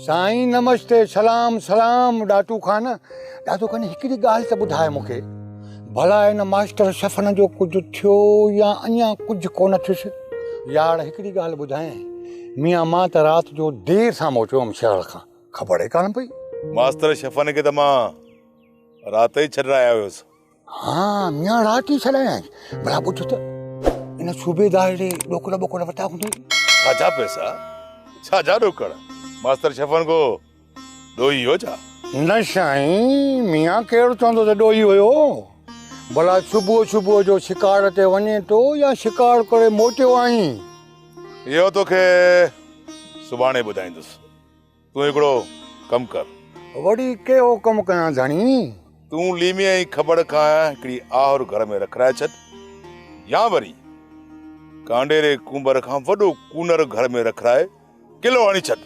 سائين نمشتي سلام سلام ڏاٽو خان ڏاٽو خان هڪڙي ڳالهه ته ٻڌاء مونکي ڀلا هن ماستر شفن جو ڪجهه ٿيو يا اڃا ڪجهه ڪونه ٿيس يار هڪڙي ڳالهه ٻڌاء ميان مان ته رات جو دير سان موٽيو هوم شهر کان خبر ئي ڪانه پئي ماستر شفن کي ته مان رات ئي ڇڏرائي آيو هيس ها ميان رات ئي ڇڏايائين ڀلا ٻڌ ته ان صوبيدار ڏي ڏوڪڙ ٻوڪڙ وتا هوندي ڇاجا پئسا ڇاجا ڏوڪڙ ماستر شفن کو ڏوهي هو ڇا نه سائين ميان ڪير چوندو ته ڏوهي هيو ڀلا صبح صبح جو شڪار تي وڃي ٿو يا شڪار ڪري موٽيو آهين اهو توکي سڀاڻي ٻڌائيندس تون هڪڙو ڪم ڪر. وڙي ڪهڙو ڪم ڪيان ڌڻي؟ تون ليمي ۽ کبڙ کان هڪڙي آهر گهر ۾ رکرائي ڇڏ يا وري ڪانڊيري ڪونڀر کان وڏو ڪونر گهر ۾ رکرائي قلعو هڻي ڇڏ.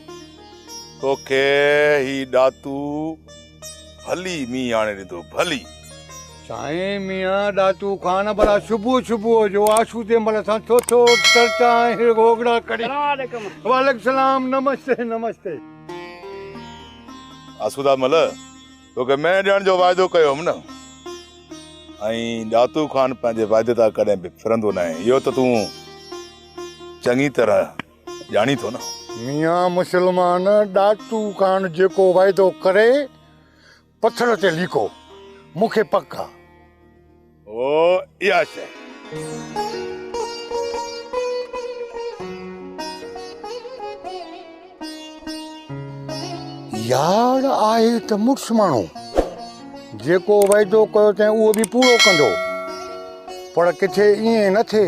توکي هي ڏاتو ڀلي مينهن آڻي ڏيندو ڀلي. سائين ميان ڏاتو خان ڀلا صبح صبح جو آشو جي مل سان ٿو ٿو چرچا ۽ گوگڙا ڪري. سلام عليڪم. وعليڪم السلام نمستي نمستي. آسودا مل توکي مينهن ڏيڻ جو واعدو ڪيو هيم نه ۽ ڏاتو خان پنهنجي واعدي تان ڪڏهن به ڦرندو ناهي اهو ته تون چڱي طرح ڄاڻين ٿو نه. ميان مسلمان ڏاٽو خان جيڪو وعدو ڪري پٿر تي ليڪو مون کي پڪ آ. هو اها شيء. يار آهي ته مڙس ماڻهو جيڪو وعدو ڪيو تين اهو به پورو ڪندو پر ڪٿي ائين نه ٿئي.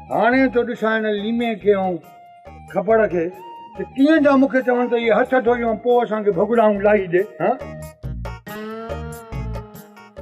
هاڻي ٿو ڏسان هن ليمي کي ۽ کپڙ کي ته ڪيئن ٿا مونکي چون ته اهي هٿ ٿو ڏيون پوء اسان کي ڀڳڙائون لاهي ڏي هان.